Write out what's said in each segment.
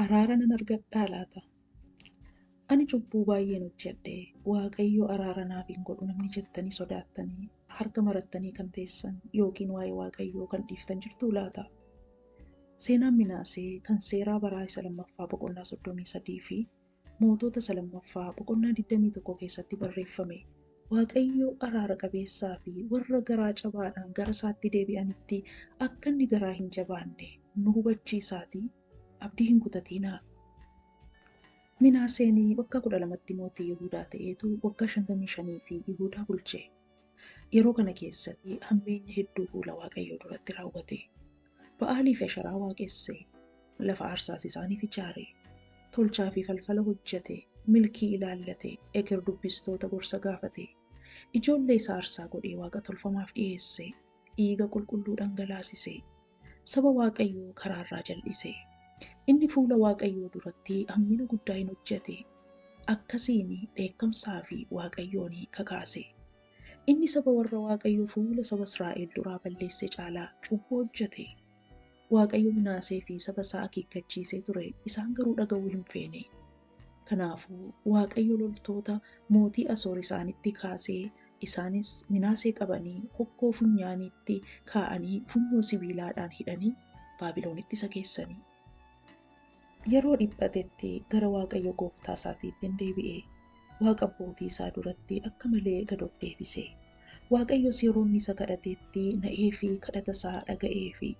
Araara nan argadhaa laata? Ani cubbuu baay'een hojjedhe, Waaqayyo araara naaf hin godhu namni jettanii sodaattanii harka marattanii kan teessan yookiin waa'ee Waaqayyoo kan dhiiftan jirtuu laata? Seenaan Minaasee kan seeraa baraa isa lammaffaa boqonnaa 33 fi Mootota Isa 2ffaa boqonnaa 21 keessatti barreeffame. Waaqayyo araara qabeessaa fi warra garaa cabaadhaan gara isaatti deebi'anitti akka inni garaa hin jabaanne nu hubachiisaatii abdii hin kutatiinaa. Minaaseen waggaa 12tti mootii Yihuudaa ta'eetu waggaa 55 fi Yihuudaa bulche. Yeroo kana keessatti hammeenya hedduu fuula Waaqayyoo duratti raawwate. Ba'aalii fi Asheraa waaqesse, lafa aarsaas isaaniif ijaare, tolchaa fi falfala hojjete, milkii ilaallate, eker dubbistoota gorsa gaafate, ijoollee isaa aarsaa godhee waaqa tolfamaaf dhiheesse, dhiiga qulqulluu dhangalaasise. Saba Waaqayyoo karaa irraa jal'ise. Inni fuula Waaqayyoo duratti hammina guddaa in hojjete, akkasiin dheekkamsaa fi Waaqayyoon kakaase. Inni saba warra Waaqayyo fuula saba Israa'el duraa balleesse caalaa cubbuu hojjete. Waaqayyo Minaasee fi saba isaa akeekkachiisee ture, isaan garuu dhaga'uu hin feene. Kanaafuu Waaqayyo loltoota mootii Asoor isaanitti kaase, isaanis Minaasee qabanii hokkoo funyaaniitti kaa'anii funyoo sibiilaadhaan hidhanii Baabilonitti isa geessanii. Yeroo dhiphatetti gara Waaqayyo gooftaa isaatiitti in deebi'e, Waaqa abbootii isaa duratti akka malee gad of deebise. Waaqayyos yeroo inni isa kadhatetti na'ee fi kadhata isaa dhaga'ee fi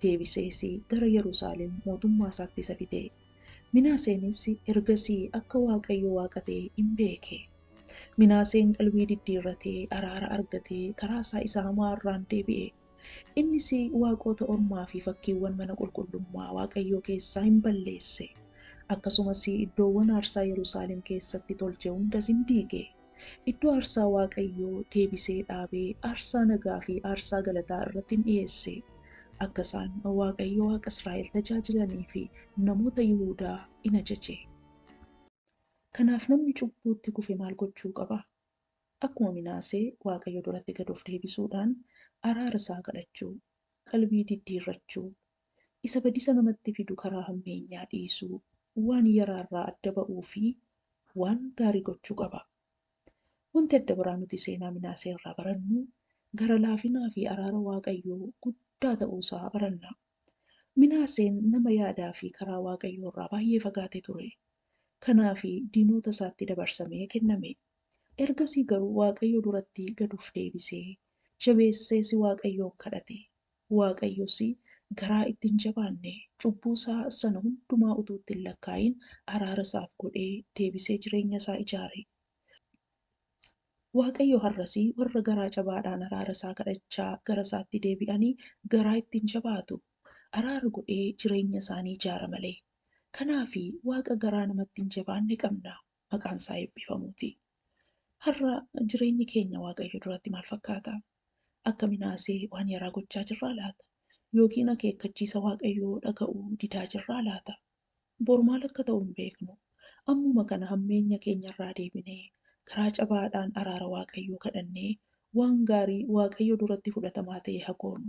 deebisees gara Yerusaalem mootummaa isaatti isa fide. Minaaseenis ergasii akka Waaqayyo Waaqa ta'e in beeke. Minaaseen qalbii diddiirratee araara argatee karaa isaa isa hamaa irraan deebi'e. Innis waaqota ormaa fi fakkiiwwan mana qulqullummaa Waaqayyoo keessaa in balleesse, akkasumas iddoowwan aarsaa Yerusaalem keessatti tolche hundas in diige. Iddoo aarsaa Waaqayyo deebisee dhaabe aarsaa nagaa fi aarsaa galataa irratti in dhi'eesse, akka isaan Waaqayyo Waaqa Israa'el tajaajilanii fi namoota Yihuudaa in ajaje. Kanaaf namni cubbuutti kufe maal gochuu qaba? Akkuma Minaasee Waaqayyo duratti gad of deebisuudhaan araara isaa kadhachuu, qalbii diddiirrachuu, isa badisa namatti fidu karaa hammeenyaa dhiisuu, waan yaraa irraa adda ba'uu fi waan gaarii gochuu qaba. Wanti adda biraa nuti seenaa Minaasee irraa barannu, gara laafinaa fi araara Waaqayyoo guddaa ta'uu isaa baranna. Minaaseen nama yaadaa fi karaa Waaqayyoo irraa baay'ee fagaate ture. Kanaaf diinoota isaatti dabarsamee kenname. Ergasii garuu Waaqayyo duratti gad of deebisee, jabeessees Waaqayyoon kadhate. Waaqayyos garaa itti hin jabaanne, cubbuu isaa sana hundumaa utuu itti hin lakkaa'iin araara isaaf godhee deebisee jireenya isaa ijaare. Waaqayyo har'as warra garaa jabaadhaan araara isaa kadhachaa gara isaatti deebi'anii garaa itti hin jabaatu, araara godhee jireenya isaa ni ijaara malee. Kanaaf Waaqa garaa namatti hin jabaanne qabna. maqaan isaa eebbifamuuti. Har'a jireenyi keenya Waaqayyo duratti maal fakkaata? Akka Minaasee waan yaraa gochaa jirraa laata? Yookiin akeekkachiisa Waaqayyoo dhaga'uu didaa jirraa laata? Bor maal akka ta'u hin beeknu. Ammuma kana hammeenya keenyarraa deebinee, garaa cabaadhaan araara Waaqayyoo kadhannee waan gaarii Waaqayyo duratti fudhatamaa ta'e haa goonu.